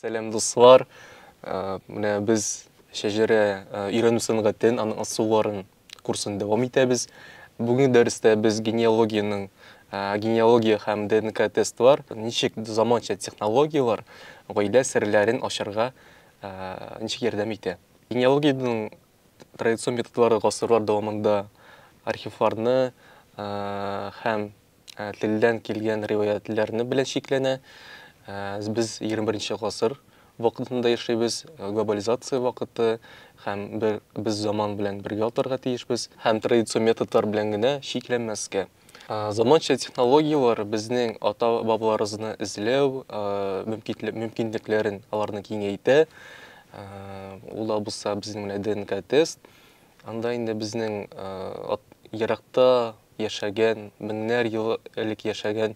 Сәлам дуслар. Э, менә без шәҗәрә э, өйрәнү сәнгатен, аның ысулларын курсын дәвам итәбез. Бүгенге дәрестә без генеалогиянең э, генеалогия һәм ДНК тестлар, ничек заманча технологияләр гаилә серләрен ачарга ничек ярдәм итә. Генеалогиянең традицион методлары гасырлар дәвамында архивларны һәм телдән килгән риваятьләрне белән чикләнә. Без 21 гасыр вакытында яшибез, глобализация вакыты һәм без заман белән бергә атарга тиешбез һәм традицион методлар белән генә чикләнмәскә. Заманча технологияләр безнең ата-бабаларыбызны эзләү мөмкинлекләрен аларны киңәйтә. Ул да булса безнең менә ДНК-тест. Анда инде безнең еракта яшәгән, меңнәр ел элек яшәгән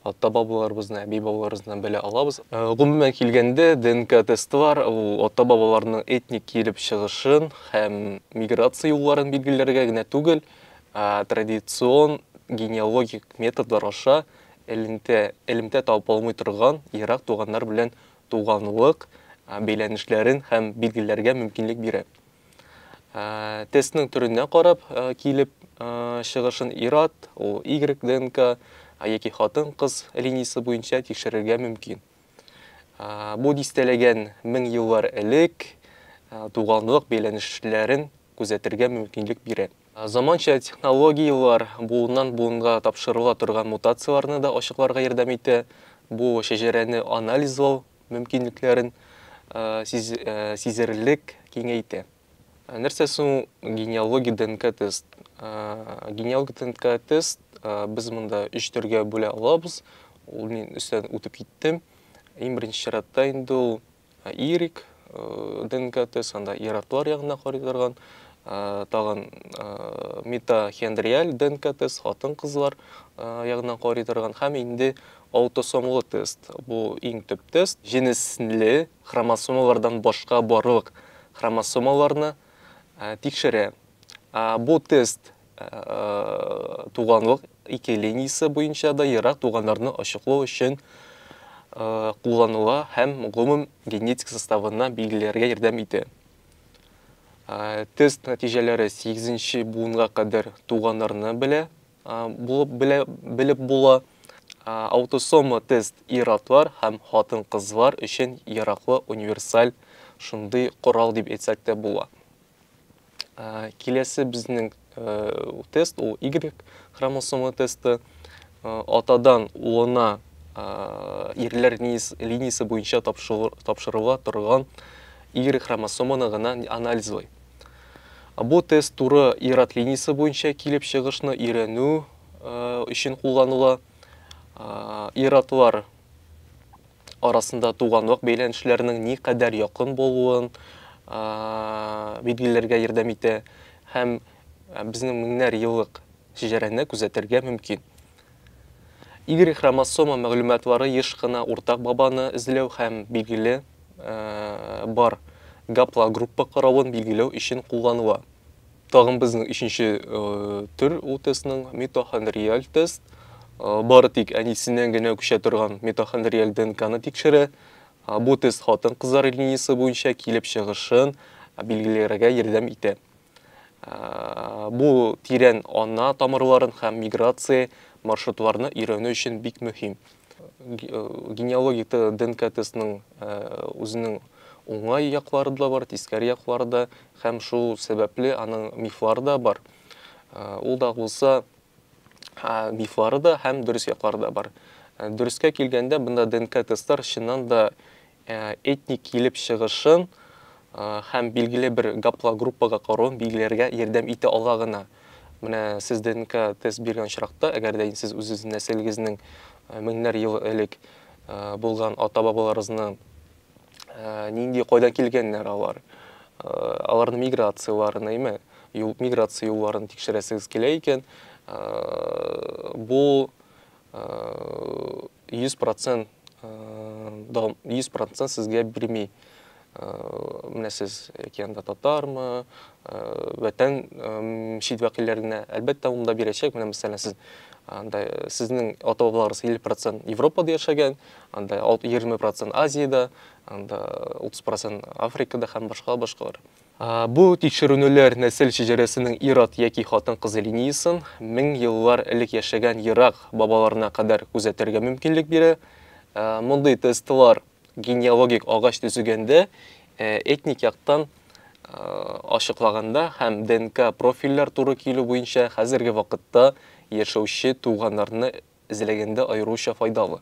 ата-бабаларыбызны, әби-бабаларыбызны белә алабыз. Гомумән килгәндә, ДНК-тестлар ул ата-бабаларның этник килеп чыгышын һәм миграция юлларын билгеләргә генә түгел, Традицион генеалогик методлар аша элемтә, элемтә табылмый торган ерак туганнар белән туганлык бәйләнешләрен һәм билгеләргә мөмкинлек бирә. Тестның төренә карап килеп чыгышын ир-ат, ул Y ДНК яки хатын-кыз линиясе буенча тикшерергә мөмкин. Бу дистәләгән мең еллар элек туганлык бәйләнешләрен күзәтергә мөмкинлек бирә. Заманча технологияләр буыннан-буынга тапшырыла торган мутацияләрне дә ачыкларга ярдәм итә. Бу шәҗәрәне анализлау мөмкинлекләрен сизелерлек киңәйтә. Ә нәрсә соң генеалогия ДНК тест? Ә, генеалогия ДНК тест ә, без монда өч төргә бүлә алабыз. Ул мин өстән үтеп киттем. Иң беренче чиратта инде ул ә, ирек ә, ДНК тест, анда ираклар ягына карый торган. Ә, тагын ә, митохондриаль ДНК тест, хатын-кызлар ә, ягына карый торган һәм инде аутосомлы тест. Бу иң төп тест. Җенесле хромосомалардан башка барлык хромосомаларны тикшерә. Бу тест туганлык ике линиясе буенча да ерак туганнарны ачыклау өчен кулланыла һәм гомум генетик составына билгеләргә ярдәм итә. Тест нәтиҗәләре 8 нче буынга кадәр туганнарны белә. Булып белә, белеп була. Аутосома тест ир-атлар һәм хатын-кызлар өчен яраклы универсаль шундый корал дип әйтсәк тә була. Киләсе безнең тест ул Y хромосома тесты. Атадан улына ирләр линиясе буенча тапшырыла торган Y хромосоманы гына анализлый. Бу тест туры ир-ат линиясе буенча килеп чыгышны өйрәнү өчен кулланыла. Ир-атлар арасында туганлык бәйләнешләренең ни кадәр якын булуын билгеләргә ярдәм итә һәм безнең меңнәр еллык шәҗәрәне күзәтергә мөмкин. Y-хромосома мәгълүматлары еш кына уртак бабаны эзләү һәм, билгеле, бар гаплогруппа каравын билгеләү өчен кулланыла. Тагын безнең өченче төр ул тестның митохондриаль тест. Бары тик әнисеннән генә күчә торган митохондриаль ДНКны тикшерә. Бу тест хатын-кызлар линиясе буенча килеп чыгышын билгеләргә ярдәм итә. Бу тирән ана тамырларын һәм миграция маршрутларны өйрәнү өчен бик мөһим. Генеалогик ДНК тестның үзенең уңай яклары да бар, тискәре яклары да, һәм шул сәбәпле аның мифлары да бар. Ул да булса мифлары да һәм дөрес яклары да бар. Дөрескә килгәндә, бында ДНК тестлар чыннан да этник килеп чыгышын һәм билгеле бер гаплогруппага каруын билгеләргә ярдәм итә ала гына. Менә сез ДНК тест биргән очракта, әгәр дә сез үзегезнең нәселегезнең меңнәр ел элек булган ата-бабаларыгызны нинди, кайдан килгәннәр алар, аларның миграцияләрен, әйме, миграция юлларын тикшерәсегез килә икән, бу 100 процент дом 100 процент сезгә бирми менә сез океанда татармы вәтән мчит вәкилләренә әлбәттә ул да бирәчәк менә мәсәлән сез анда сезнең ата бабаларыгыз 50 процент европада яшәгән анда 20 процент азиядә анда 30 процент африкада һәм башка башкалар Бу тикшеренүләр нәсел шәҗәрәсенең ир-ат яки хатын-кыз линиясен мең еллар элек яшәгән ерак бабаларына кадәр күзәтергә мөмкинлек бирә. Мондый тестлар генеалогик агач төзегәндә, этник яктан ачыклаганда һәм ДНК-профильләр туры килү буенча хәзерге вакытта яшәүче туганнарны эзләгәндә аеруча файдалы.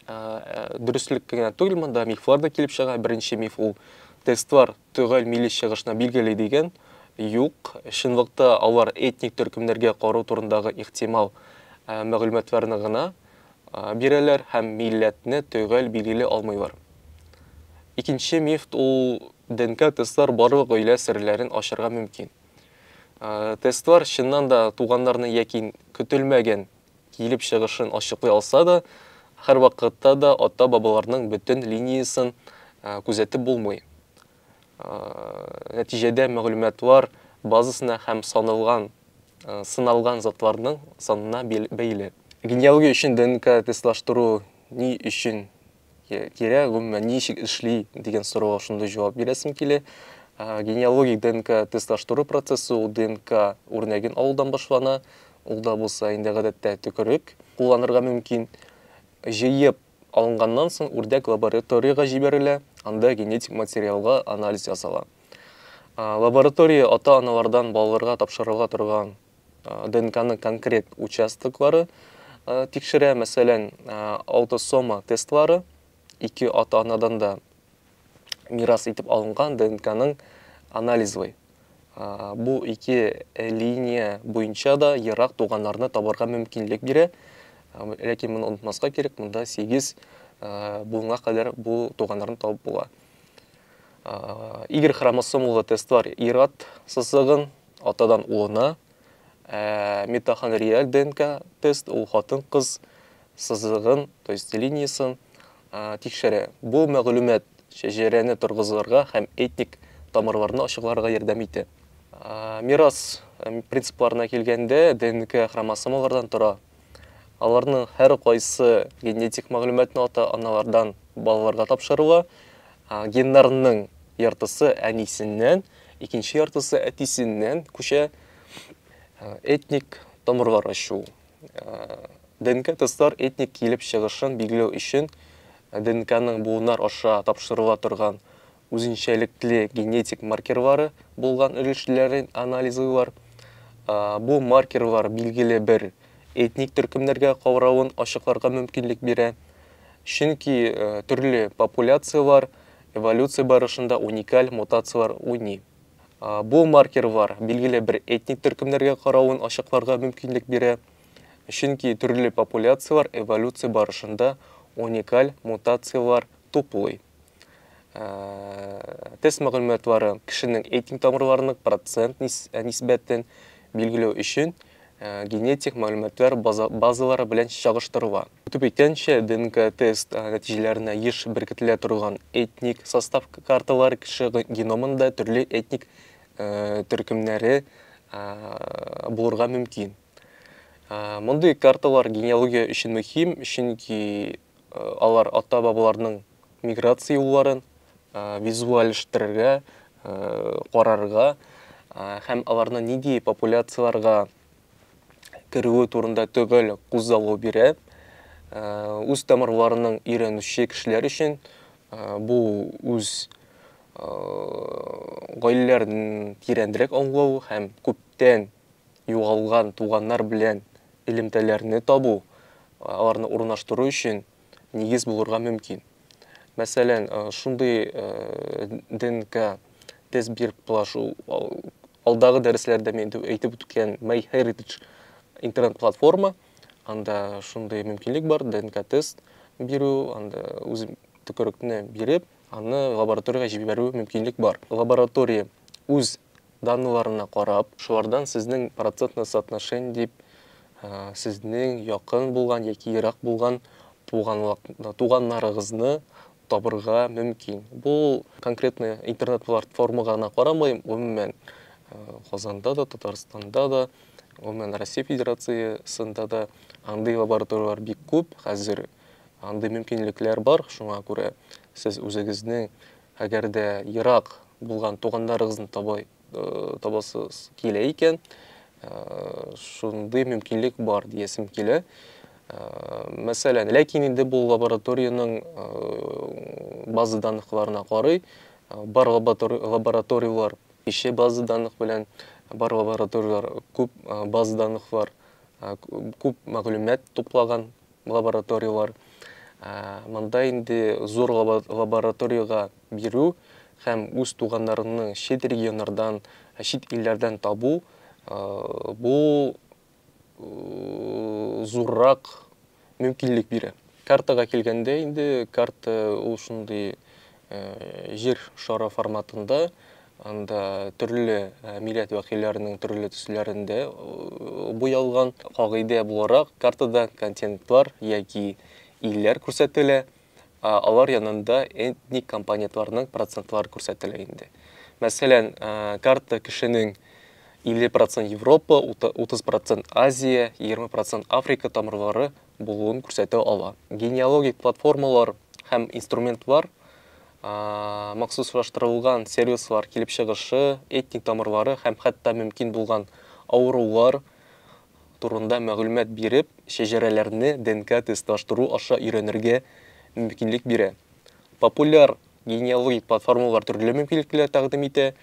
Дөреслек кенә түгел, монда мифлар да килеп чыга. Беренче миф ул, тестлар төгәл милли чыгышны билгели дигән. Юк, чынлыкта алар этник төркемнәргә кару турындагы ихтимал мәгълүматларны гына бирәләр һәм милләтне төгәл билгели алмыйлар. Икенче миф ул, ДНК тестлар барлык гаилә серләрен ачарга мөмкин. Тестлар чыннан да туганнарны яки көтелмәгән килеп чыгышын ачыклый алса да, һәрвакытта да ата-бабаларның бөтен линиясын күзәтеп булмый. Нәтиҗәдә мәгълүматлар базасына һәм саналган, сыналган затларның санына бәйле. Генеалогия өчен ДНК-тестлаштыру ни өчен кирәк, гомумән, ничек эшли дигән сорауга шундый җавап бирәсем килә. Генеалогик ДНК тестлаштыру процессы ул ДНК үрнәген алудан башлана. Ул да булса инде гадәттә төкерек кулланырга мөмкин. Җыеп алынганнан соң үрдәк лабораториягә җибәрелә, анда генетик материалга анализ ясала. Лаборатория ата-аналардан балаларга тапшырыла торган ДНКны конкрет участоклары тикшерә, мәсәлән, аутосома тестлары, ике ата-анадан да мирас итеп алынган ДНКның анализлый. Бу ике линия буенча да ерак туганнарны табарга мөмкинлек бирә. Ләкин моны онытмаска кирәк, монда 8 буынга кадәр бу туганнарны табып була. Y хромосомалы тестлар ират сызыгын Атадан улына, ә, митохондриаль ДНК тест, ул хатын-кыз сызыгын, то есть линиясын, ә, тикшерә. Бу мәгълүмат шәҗәрәне торгызырга һәм этник тамырларны ачыкларга ярдәм итә. Ә, мирас принципларына килгәндә, ДНК хромосомалардан тора. Аларның һәркайсы генетик мәгълүматны ата-аналардан балаларга тапшырыла. Геннарның яртысы әнисеннән, икенче яртысы әтисеннән күчә. Этник тамырлар ачу. ДНК тестлар этник килеп чыгышын билгеләү өчен ДНКның буыннар аша тапшырыла торган үзенчәлекле генетик маркерлары булган өлешләрен анализлыйлар. Бу маркерлар билгеле бер этник төркемнәргә кавравын ачыкларга мөмкинлек бирә. Чөнки төрле популяцияләр эволюция барышында уникаль мутацияләр уйный. Бу маркерлар билгеле бер этник төркемнәргә каравын ачыкларга мөмкинлек бирә. Чөнки төрле популяцияләр эволюция барышында уникаль мутацияләр туплый. Тест мәгълүматлары кешенең этник тамырларының процент нисбәтен билгеләү өчен генетик мәгълүматлар базалары белән чагыштырыла. Үтеп әйткәнчә, ДНК-тест нәтиҗәләренә еш беркетелә торган этник состав карталары кеше геномында төрле этник төркемнәре булырга мөмкин. Мондый карталар генеалогия өчен мөһим, чөнки алар ата-бабаларның миграция юлларын визуальләштерергә, карарга һәм аларны нинди популяцияләргә керүе турында төгәл кузгалу бирә. Үз тамырларының өйрәнүче кешеләр өчен бу үз гаиләләрен тирәнрәк аңлау һәм күптән Югалган туганнар белән элемтәләрне табу, аларны урнаштыру өчен нигез булырга мөмкин. Мәсәлән, шундый ДНК тест биреп була шул алдагы дәресләрдә мин әйтеп үткән MyHeritage интернет-платформа. Анда шундый мөмкинлек бар, ДНК тест бирү, анда үз төкерекне биреп, аны лабораториягә җибәрү мөмкинлек бар. Лаборатория үз данлыларына карап, шулардан сезнең процентное соотношение дип сезнең якын булган яки ерак булган туганнарыгызны табырга мөмкин. Бу конкретно интернет-платформага гына карамый, гомумән Казанда да, Татарстанда да, гомумән Россия Федерациясендә дә андый лабораторияләр бик күп хәзер. Андый мөмкинлекләр бар, шуңа күрә сез үзегезнең Әгәр дә ерак булган туганнарыгызны табасыз килә икән, шундый мөмкинлек бар диясем килә. Мәсәлән, ләкин инде бу лабораториянең база данлыкларына карый, бар лабораторияләр ише база данлык белән, бар лабораторияләр күп база данлыклар, күп мәгълүмат туплаган лабораторияләр. Монда инде зур лабораториягә бирү һәм үз туганнарыңны чит регионнардан, чит илләрдән табу бу зуррак мөмкинлек бирә. Картага килгәндә инде, карта ул шундый Җир шары форматында, анда төрле милләт вәкилләренең төрле төсләрендә буялган. Кагыйдә буларак, картада континентлар яки илләр күрсәтелә, ә алар янында этник компонентларның процентлары күрсәтелә инде. Мәсәлән, карта кешенең 50 процент Европа, 30 процент Азия, 20 процент Африка тамырлары булуын күрсәтә ала. Генеалогик платформалар һәм инструментлар махсуслаштырылган сервислар килеп чыгышы, этник тамырлары һәм хәтта мөмкин булган авырулар турында мәгълүмат биреп, шәҗәрәләрне ДНК-тестлаштыру аша өйрәнергә мөмкинлек бирә. Популяр Генеалогик платформалар төрле мөмкинлекләр тәкъдим итә,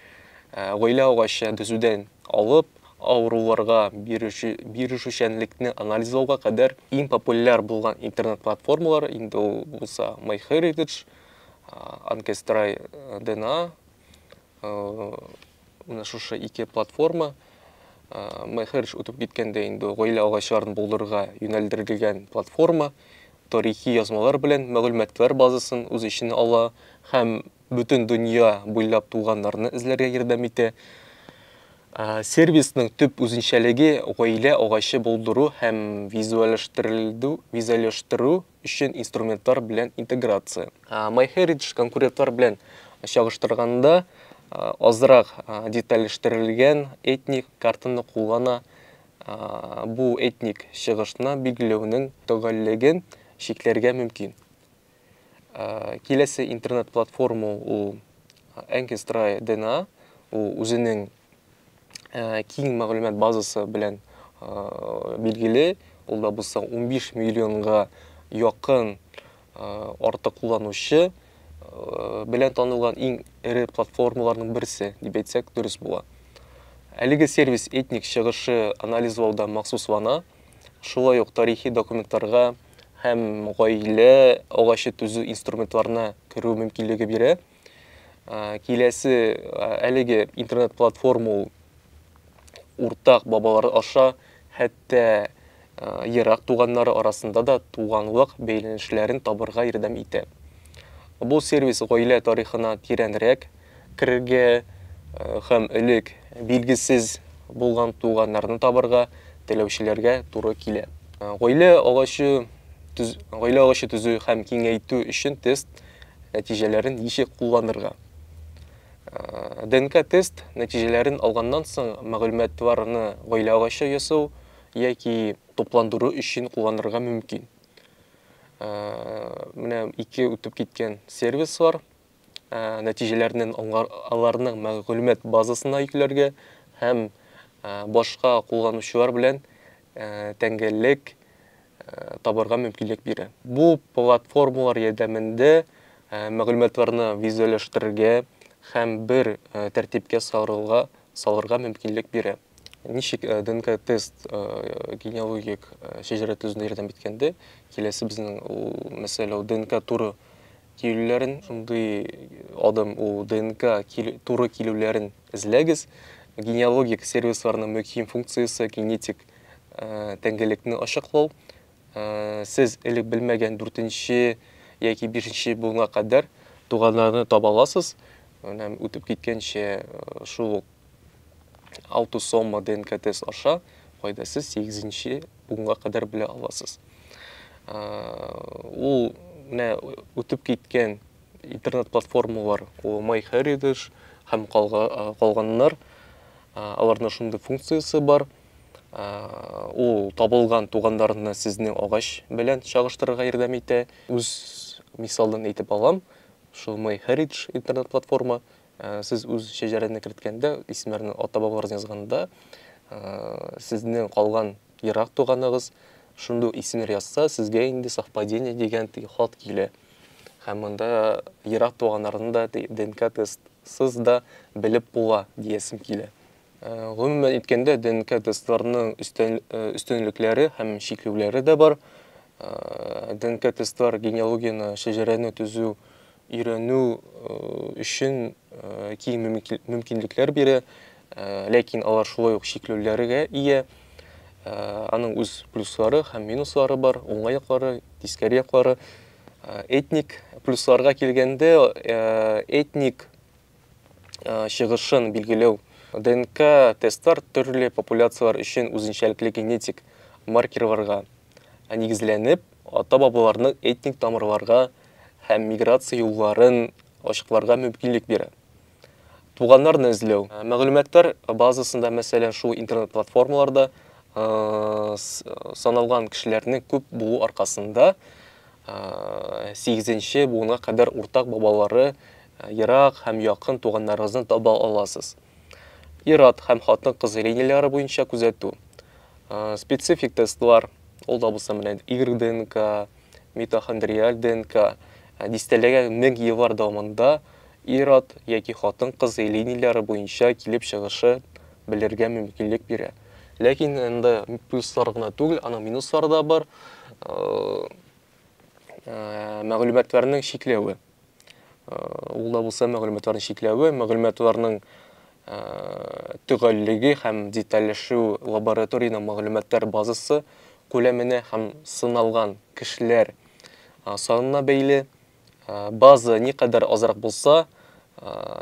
гаилә агачы төзүдән алып, авыруларга бирешүчәнлекне анализлауга кадәр. Иң популяр булган интернет-платформалар инде ул булса MyHeritage, Ancestry DNA, менә шушы ике платформа. MyHeritage үтеп киткәндә инде гаилә агачларын булдырырга юнәлдерелгән платформа. тарихи язмалар белән мәгълүматлар базасын үз эченә ала һәм бөтен дөнья буйлап туганнарны эзләргә ярдәм итә. Сервисның төп үзенчәлеге гаилә агачы булдыру һәм визуальләштерелдү визуальләштерү өчен инструментлар белән интеграция. MyHeritage конкурентлар белән чагыштырганда азрак детальләштерелгән этник картаны куллана, бу этник чыгышны билгеләүнең төгәллеген чикләргә мөмкин. Киләсе интернет-платформа ул Ancestry DNA, ул үзенең киң мәгълүмат базасы белән билгеле, ул да булса 15 миллионга якын артык кулланучы белән танылган иң эре платформаларның берсе дип әйтсәк дөрес була. Әлеге сервис этник чыгышы анализлауда махсуслана, шулай ук тарихи документларга һәм гаилә агачы төзү инструментларына керү мөмкинлеге бирә. Ә, киләсе ә, әлеге интернет-платформа ул уртак бабалар аша хәтта ә, ерак туганнары арасында да туганлык бәйләнешләрен табырга ярдәм итә. Бу сервис гаилә тарихына тирәнрәк керергә ә, һәм элек билгесез булган туганнарны табырга теләүчеләргә туры килә. Гаилә агачы төз, гаилә агачы төзү һәм киңәйтү өчен тест Нәтиҗәләрен ничек кулланырга? ДНК-тест нәтиҗәләрен алганнан соң мәгълүматларны гаилә агачы ясау яки тупландыру өчен кулланырга мөмкин. Менә ике үтеп киткән сервис бар. Нәтиҗәләрне аларның мәгълүмат базасына йөкләргә һәм башка кулланучылар белән тәңгәллек табарга мөмкинлек бирә. Бу платформалар ярдәмендә мәгълүматларны визуальләштерергә һәм бер тәртипкә салырга мөмкинлек бирә. Ничек ДНК-тест генеалогик шәҗәрә төзүдә ярдәм иткәндә, киләсе безнең ул мәсьәлә ул ДНК туры килүләрен, шундый адым ул ДНК туры килүләрен эзләгез. Генеалогик сервисларның мөһим функциясе генетик тәңгәлекне ачыклау сез элек белмәгән дүртенче яки бишенче буынга кадәр туганнарны таба аласыз менә үтеп киткәнчә шул аутосома днк тест аша кайда сез сигезенче буынга кадәр белә аласыз ул менә үтеп киткән интернет платформалар ул MyHeritage һәм калганнар. Аларның шундый функциясе бар. Ул табылган туганнарны сезнең агач белән чагыштырырга ярдәм итә. Үз мисалдан әйтеп алам. Шул MyHeritage интернет платформа сез үз шәҗәрәне керткәндә, исемнәрне ата-бабаларны язганда, сезнең калган ерак туганыгыз шундук исемнәр язса, сезгә инде совпадение дигән теге хат килә. Һәм монда ерак туганнарны да ДНК тестсыз да белеп була диясем килә. Э, гомумән әйткәндә, ДНК тестларының э, өстенлекләре һәм чикләүләре дә бар. Э, ДНК тестлар генеалогияне, шәҗәрәне төзү өйрәнү өчен киң мөмкинлекләр бирә, ләкин алар шулай ук чикләүләргә ия. Аның үз плюслары һәм минуслары бар, уңай яклары, тискәре яклары. Этник плюсларга килгәндә, этник чыгышын билгеләү. ДНК тестлар төрле популяцияләр өчен үзенчәлекле генетик маркерларга нигезләнеп, ата-бабаларның этник тамырларга һәм миграция юлларын ачыкларга мөмкинлек бирә. Туганнарны эзләү. Мәгълүматлар базасында, мәсәлән, шул интернет-платформаларда саналган кешеләрнең күп булу аркасында, сигезенче буынга кадәр уртак бабалары Ерак һәм якын туганнарыгызны таба аласыз. Ир-ат һәм хатын-кыз линияләре буенча күзәтү. Специфик тестлар, ул да булса менә Y-ДНК, митохондриаль ДНК, дистәләгә мең еллар дәвамында ир-ат яки хатын-кыз линияләре буенча килеп чыгышы белергә мөмкинлек бирә. Ләкин анда плюслар гына түгел, аның минуслары да бар. Мәгълүматларның чикләве. Ул да булса мәгълүматларны чикләве, мәгълүматларның төгәллеге һәм детальләшү лабораториянең мәгълүматлар базасы күләменә һәм сыналган кешеләр санына бәйле. База никадәр азрак булса,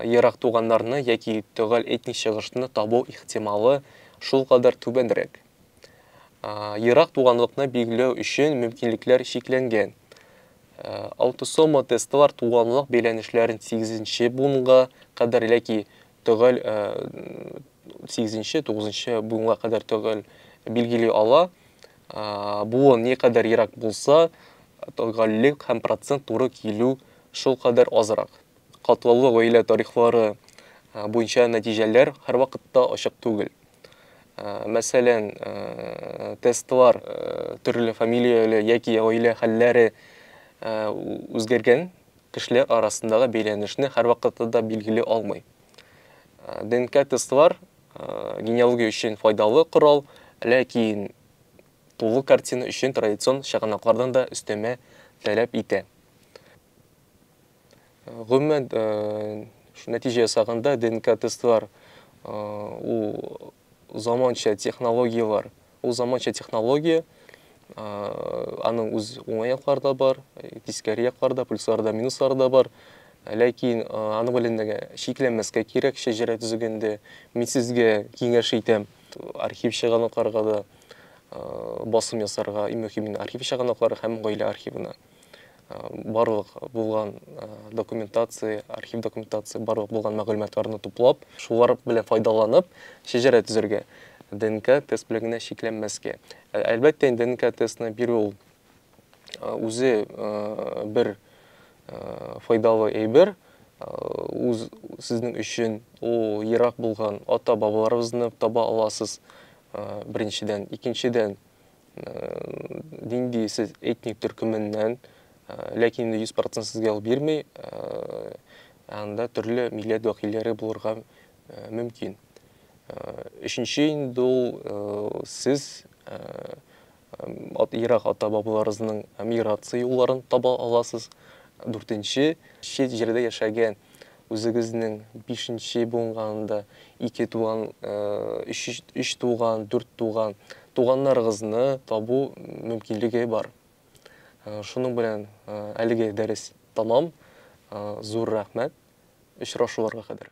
ерак туганнарны яки төгәл этник чыгышны табу ихтималы шулкадәр түбәнрәк. Ерак туганлыкны билгеләү өчен мөмкинлекләр чикләнгән. Аутосома тестлар туганлык бәйләнешләрен 8 буынга кадәр яки төгәл 8-9 буынга кадәр төгәл билгели ала. Буын ни кадәр ерак булса, төгәллек һәм процент туры килү шул кадәр азрак. Катлаулы гаилә тарихлары буенча нәтиҗәләр һәрвакытта ачык түгел. Мәсәлән, тестлар төрле фамилияле яки гаилә хәлләре үзгәргән кешеләр арасындагы бәйләнешне һәрвакытта да билгели алмый. ДНК-тестлар генеалогия өчен файдалы корал, ләкин тулы картина өчен традицион чыганаклардан да өстәмә таләп итә. Гомумән, нәтиҗә ясаганда ДНК тестлар ул заманча технологияләр. Ул заманча технология, аның үз уңай яклары да бар, тискәре яклары да, плюслары да, минуслары да бар. Ләкин аны белән дә шикләнмәскә кирәк шәҗәрә төзегәндә. Мин сезгә киңәш итәм, архив чыганакларга да басым ясарга, иң мөһиме архив чыганаклары һәм гаилә архивына. барлык булган документация, архив документация, барлык булган мәгълүматларны туплап, шулар белән файдаланып, шәҗәрә төзергә, ДНК тест белән генә чикләнмәскә. Әлбәттә, инде ДНК тестны бирү ул үзе бер файдалы әйбер, үз сезнең өчен ул ерак булган ата-бабаларыбызны таба аласыз, беренчедән. Икенчедән, нинди сез этник төркеменнән, ләкин инде 100% сезгә ул бирми, анда төрле милләт вәкилләре булырга мөмкин. Өченче инде ул сез ат ерак ата бабаларыгызның миграция юлларын таба аласыз. Дүртенче чит җирдә яшәгән Үзегезнең бишенче буынганында ике туган, өч туган, дүрт туган, туганнарыгызны табу мөмкинлеге бар. Шуның белән әлеге дәрес тәмам. Зур рәхмәт. Очрашуларга кадәр.